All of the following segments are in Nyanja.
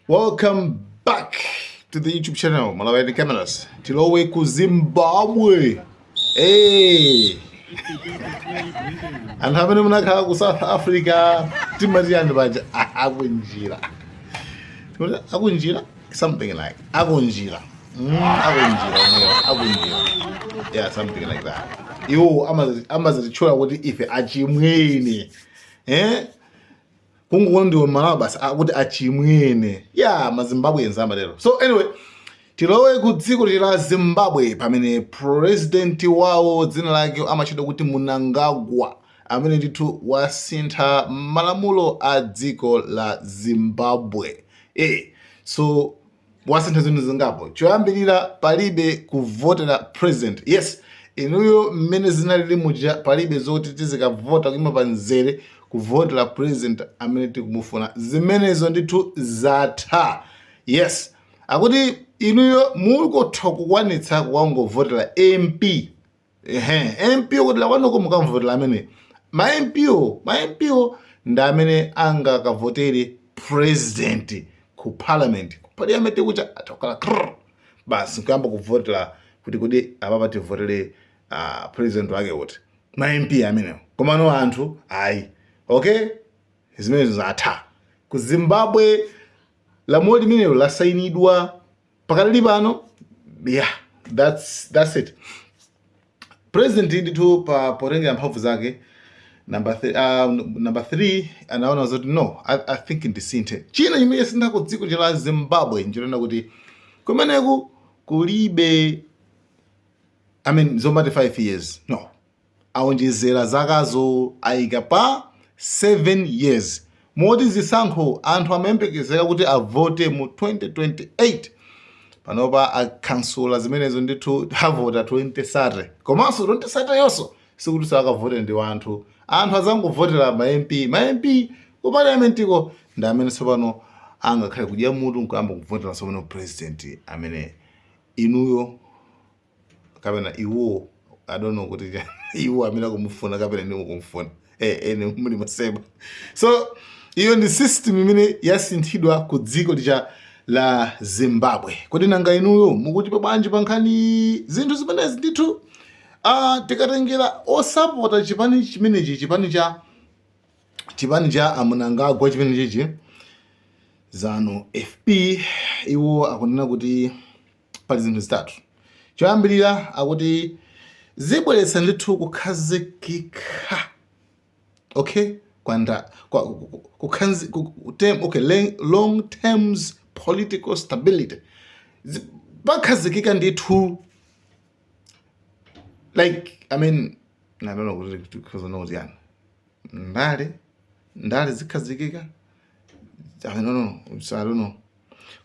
Welcome back to the YouTube channel Malawian Cameras. Tilowe ku Zimbabwe. Hey. Anthu amene munakhala ku South Africa timati anthu paja akunjira. Akunjira something like akunjira. Mm, akunjira akunjira. Yeah, something like that. Iwo amazitchula kuti ife achimwene. Eh? kungoona ndiwe Malawi basi akuti achimwene ya yeah, mazimbabwe enza amatero so anyway tilowe ku dziko la zimbabwe pamene president wawo dzina lake amatchedwa kuti Mnangagwa amene ndithu wasintha malamulo a dziko la zimbabwe e so wasintha zinthu zingapo choyambirira palibe kuvotera president yes inuyo mmene zinalili muja palibe zoti tizikavota kuima pa mzere kuvotera president amene tikumufuna zimenezo ndithu zatha yes akuti inuyo mukutha kukwanitsa kukangovotera mp ehe mp kudera lakwanuko mukamvotera amene ma mp o ma mp o ndi amene angakavotere president ku parliament ku parliament kuja atakhala krr basi nkuyamba kuvotera kuti kodi apapa tivotere uh, president wake uti ma mp amenewo komano anthu ayi okay zimenezo zatha ku zimbabwe lamulo limenelo lasayinidwa pakadali pano yeah that's that's it president ndithu pa potengera mphamvu zake number 3 uh, number 3 anaona zoti no i, I think ndisinthe china chimene chasintha ku dziko la zimbabwe nchonena kuti kumeneku kulibe i mean zomati 5 years no aonjezera zakazo aika pa 7 years moti zisankho anthu amayembekezera kuti avote mu 2028 panopa akansula zimenezo ndithu avota 2030 komanso 2030 yonso sikuti zakavote ndi wanthu anthu azangovotera ma mp ma mp ku parliamentiko ndi amene tsopano angakhale kudya mutu nkuyamba kuvotera tsopano president amene inuyo kapena iwo i don't know kuti cha- iwo amene akumufuna kapena inuyo kumufuna eh ene muli maseba so iyo ndi system imene yasinthidwa ku dziko lija la zimbabwe kodi nanga inuyo mukuti po bwanji pa nkhani zinthu zimenezi ndithu ah, tikatengera osapota chipani chimenechi chipani cha chipani cha a Mnangagwa chimenechichi zanu fp iwo akunena kuti pali zinthu zitatu. Choyambirira akuti zibweretsa ndithu kukhazikika okay kwa nda kwa long term okay long terms political stability pakhazikika ndithu like i mean i don't know what it is ndale ndale zikhazikika I don't know. It's, I don't know.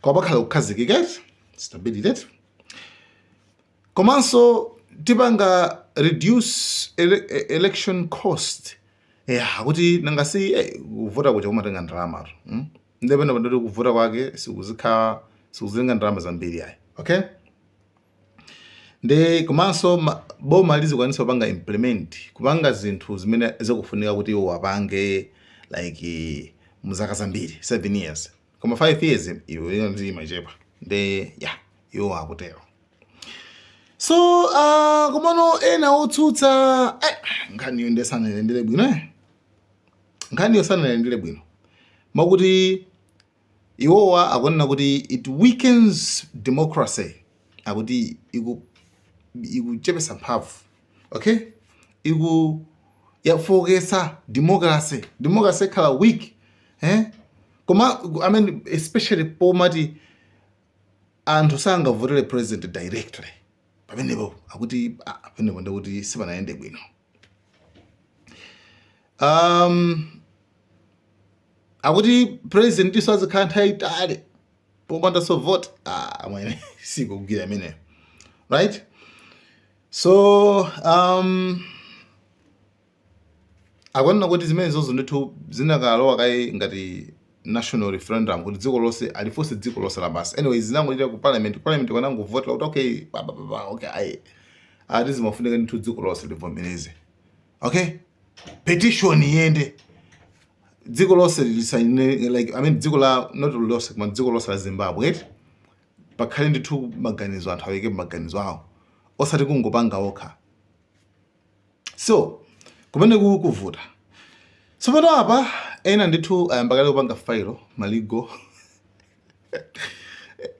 Kwa pakhala kukhazikika eti? Stability eti? Komanso tipanga reduce ele e- election cost. Yeah, kuti nanga si eh, kuvota kuja kumatenga ndalamatu. Mm? Nde pena pa ndoti kuvota kwake sikuzikha sikuzitenga ndalama zambiri ayi. Okay? nde komanso ma- boma lizikwanitsa kupanga implement kupanga zinthu zimene zikufunika kuti iwo apange like mu zaka zambiri 7 years koma 5 years iwo iyo nde imachepa nde ya iwo akutero so uh, komano ena otsutsa eh, nkhaniyo nde sanailandire bwino eh. nkhaniyo sanailandire bwino makuti Iwowa akunena kuti it weakens democracy akuti iku ikuchepetsa mphamvu okay iku yafooketsa democracy democracy ikhala weak eh koma I mean especially pomati anthu sangavotere president directly pamenepo akuti ah, pamenepo ndikuti sipanayende bwino um, akuti presidentiso azikhala nthawi yaitali popandaso vote ah, amwene sikugwira imeneyo right so um, akunena kuti zimenezozo ndithu zinakalowa kaye ngati national referendum kuti dziko lonse alifunse dziko lonse lapansi anyways zinangopita ku parliament ku parliament anangovotera kuti okay ba, ba, ba, ba, okay ayi ati zimafunika ndithu dziko lonse livomereze okay petition iyende dziko lonse lisaine like i mean dziko la not lonse koma dziko lonse la zimbabwe eti pakhale ndithu maganizo anthu aike maganizo awo osati kungopanga okha so kumeneko kukuvuta tsopano apa ena ndithu ayamba kale kupanga file ma legal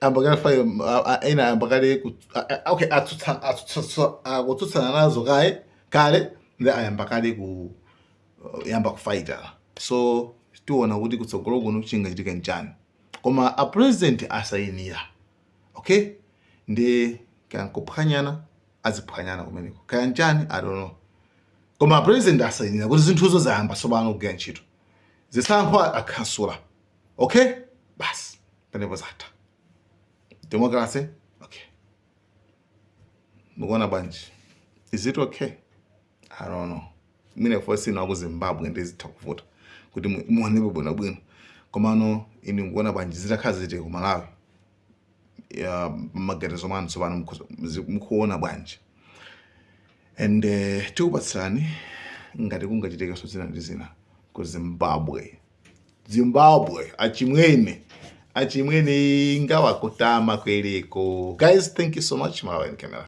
ayamba kale file a- a- ena ayamba kale ku- a- a- okay atsutsa- atsutsa- akutsutsana nazo kaye kale nde ayamba kale kuyamba kufaita so tiona kuti kutsogolo kuno chingachitike nchani koma a president asayinira ok ndi kaya nkuphwanyana aziphwanyana kumeneko kaya nchani i don't know koma apresident asayinira kuti zinthuzo zayamba tsopano kugwira ntchito zisankho akhansula ok basi pamenepo zatha democracy ok mukuona bwanji is it okay i don't know mwina ife si ina a ku zimbabwe ndiye zitha kuvuta kuti mu- tionepo bwinobwino komano inu mukuona bwanji zitakhala zili ku malawi ya maganizo mwanumo tsopano mukhoza- mzi- mukuona bwanji and uh, tikupatsirani ngati kungachitekenso zina ndi zina ku zimbabwe zimbabwe achimwene achimwene ingawakutama kwereko guys thank you so much malawian camera